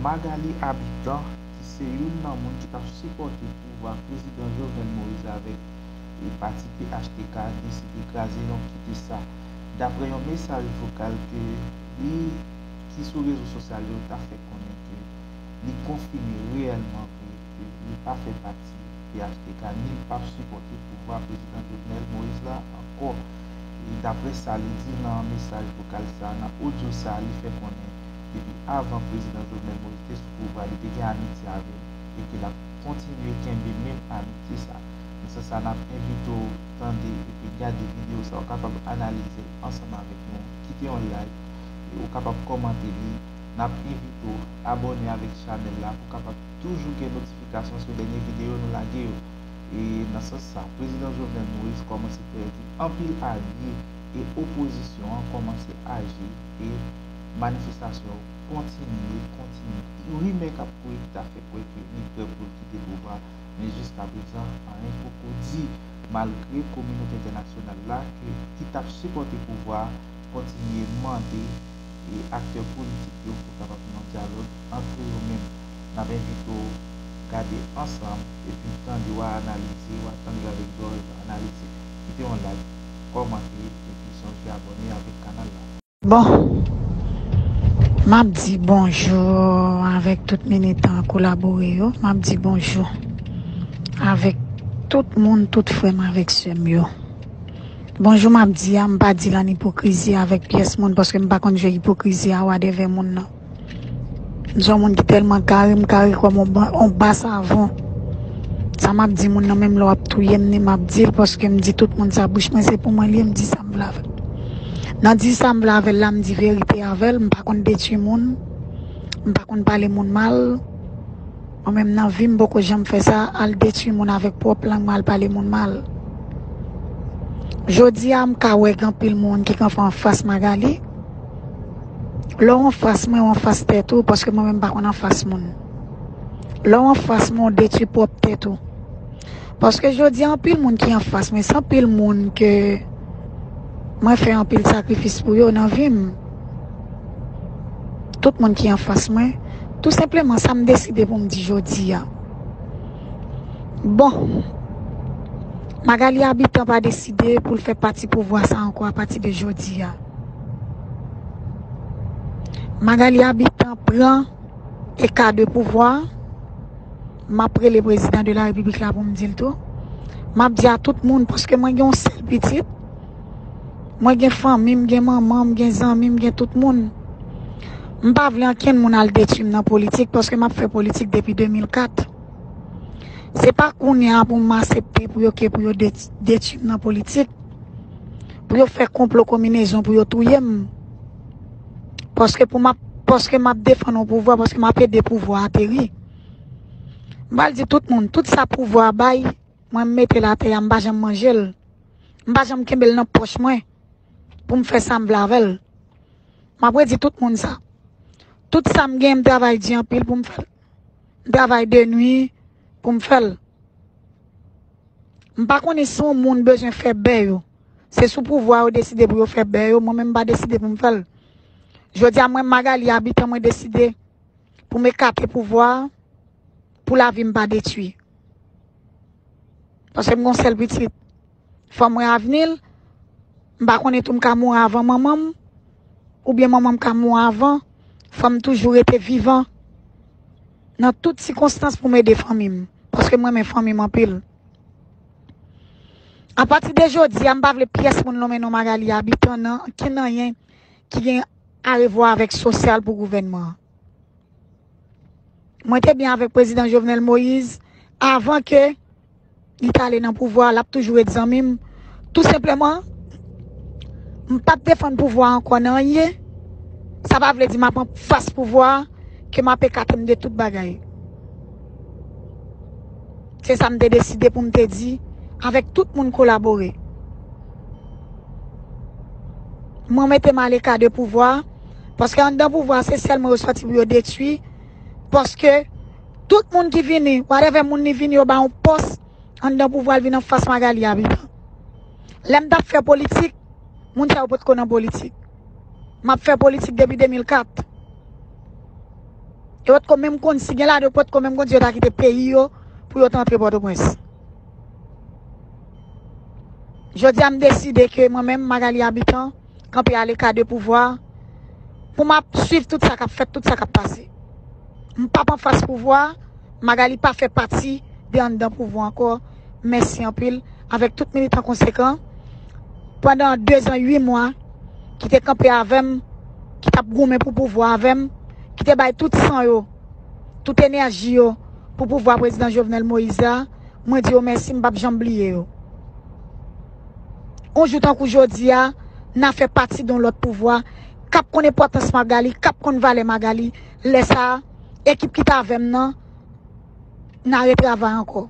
Magalie Habitant ki se youn nan moun ki t ap sipòte pouvwa Prezidan Jovenel Moise avèk e pati phtk deside kraze yon kite sa daprè yon mesaj vokal ke li ki sou rezo sosyal yo ta fè konnen ke li konfime reyèlman vre ke li pa fè pati Ayiti, phtk ni l pap sipòte pouvwa Prezidan Jovenel Moïse la ankò, e daprè sa li di nan mesaj vokal sa, nan odyo sa li fè konnen depi avan Prezidan Jovenel Moïse te sou pouvwa li te gen amitye avè l e ke l ap kontinye kenbe menm amitye sa. Nan sans sa n ap envite w tande epi gade videyo sa ou kapab analize l ansanm avèk nou, kite yon like e ou kapab kòmante li, n ap envite w abòne avèk chanèl la pou w kapab. toujou gen notifikasyon sou dènye videyo nou lage yo. E nan sans sa, Prezidan Jovenel Moïse kòmanse pèdi anpil alye e opozisyon an kòmanse aji e manifestasyon yo kontinye, kontinye. Rimè k ap kouri ki ta fè kwè ke li prè pou l kite pouvwa a, men jiskaprezan anyen poko di, malgre kominote entènasyonal la ke ki t ap sipòte pouvwa a kontinye mande. e aktè politik yo pou kapab gen yon dyalòg antre yo menm. N ap envite w gade ansanm epi tande wa analize, wa tande l avèk zòrèy analitik. Kite yon like, kòmante epi sonje abòne avèk kanal la. Bon! M ap di bonjou avèk tout militan kolabore yo, m ap di bonjou avèk tout moun, tout frè m avèk sè m yo. Bonjou map di a mpa dil an ipokrizi avèk pyès moun paske mpa konn je ipokrizi a wa dèvè moun nan mson moun ki tèlman kare mkare kòm on ba savon sa map di moun nan menm lè wap touyem ni map dil paske mdi tout moun sa bouch mwen se pou mwen liye mdi sam vle avèl nan di sam vle avèl la mdi verite avèl mpa konn detwi moun mpa konn pale moun mal. Mwen menm nan vim poko janm fè sa al detwi moun avèk pwòp lang mwen al pale moun mal jodia m ka wè gen anpil moun ki kanpe anfas Magalie lè w anfas mwen w anfas tèt ou paske mwen menm m pa konn anfas moun lè w anfas mwen w detwi pwòp tèt ou paske jodia anpil moun ki anfas mwen se anpil moun ke mwen fè anpil sakrifis pou yo nan vim. tout moun ki anfas mwen, tou senpleman sa m deside pou m di jodi a. Bon, Magalie Habitant pa deside pou l fè pati pouvwa sa ankò a pati de jodi a. Magalie Habitant pran eka de pouvwa, m ap rele prezidan de la repiblik la pou m di l tou, m ap di a tout moun paske mwen gen yon sèl pitit, Mwen gen fanmi m, gen manman m, gen zanmi m, gen tout moun. M pa vle ankenn moun al detwi m nan politik paske m ap fè politik depi 2004. Se pa kounye a pou m asepte pou yo ke pou yo detwi m nan politik, pou yo fè konplo konminezon pou yo touye m. Paske pou m ap, paske m ap defann yon pouvwa, paske m ap ede pouvwa ateri. M pa al di tout moun, tout sa pouvwa bay. Mwen m metel atè a m pa janm manjel m pa janm kenbel nan poch mwen poum fè sam vle avèl map redi tout moun sa tout sam gen m travay di anpil poum fèl m travay de nwi poum fèl m pa konnen si yon moun bezwen fè bè yo se sou pouvwa yo deside pou yo fè bè yo mwen menm m pa deside poum fèl jodia mwen Magalie Habitant mwen deside poum ekate pouvwa. Pou lavi m pa detwi. Paske m gon sèl pitit. Fò m wè avni l. M pa konnen tou m ka mouri avan manman m. Oubyen manman m ka mou avan. Fò m toujou rete vivan. Nan tout sikonstans pou m ede fanmi m. Paske m renmen fanmi m anpil. A pati de jodi a m pa vle pyès moun lonmen non Magalie Habitant nan ankenn anyen ki gen arevwa avèk sosyal pou gouvènman an. Mwen te byen avèk prezidan Jovenel Moïse avan ke li ta ale nan pouvwa, l ap toujou ret zanmi m. Tou senpleman, m pa p defann pouvwa an kon nan anyen. Sa pa vle di m ap an fas pouvwa an, ke m ap ekate m de tout bagay. Se sa m te deside pou m te di avèk tout moun kolabore. Mwen mete m aleka de pouvwa. Paske anndan pouvwa se sèlman yo sòti pou yo detwi. Paske tout moun ki vini, whatever moun li vini yo ba yon pòs anndan pouvwa li vini an fas Magalie Habitant. Lè m t ap fè politik, moun sa yo potko nan politik. M ap fè politik depi 2004. Yo potko menm konn si gen ladan yo potko menm konn si yo ta kite peyi yo pou yo t antre Pòtoprens. Jodi a m deside ke mwen menm Magalie Habitant kanpe aleka de pouvwa pou map swiv tout sa kap fèt, tout sa kap pase. M pap anfas pouvwa, Magalie pa fè pati de anndan pouvwa ankò. Mèsi anpil avèk tout militan konsekan pandan 2 zan 8 mwa ki te kanpe avè m, ki tap goumen pou pouvwa avè m, ki te bay tout san yo, tout enèji yo pou pouvwa Prezidan Jovenel Moïse la. Mwen di yo mèsi, m pap janm bliye yo. On jou tankou jodi a, na fè pati don lòt pouvwa, kap konn enpòtans Magali, kap konn valè Magali, lè sa a, ekip ki t avè m nan, na retravay ankò.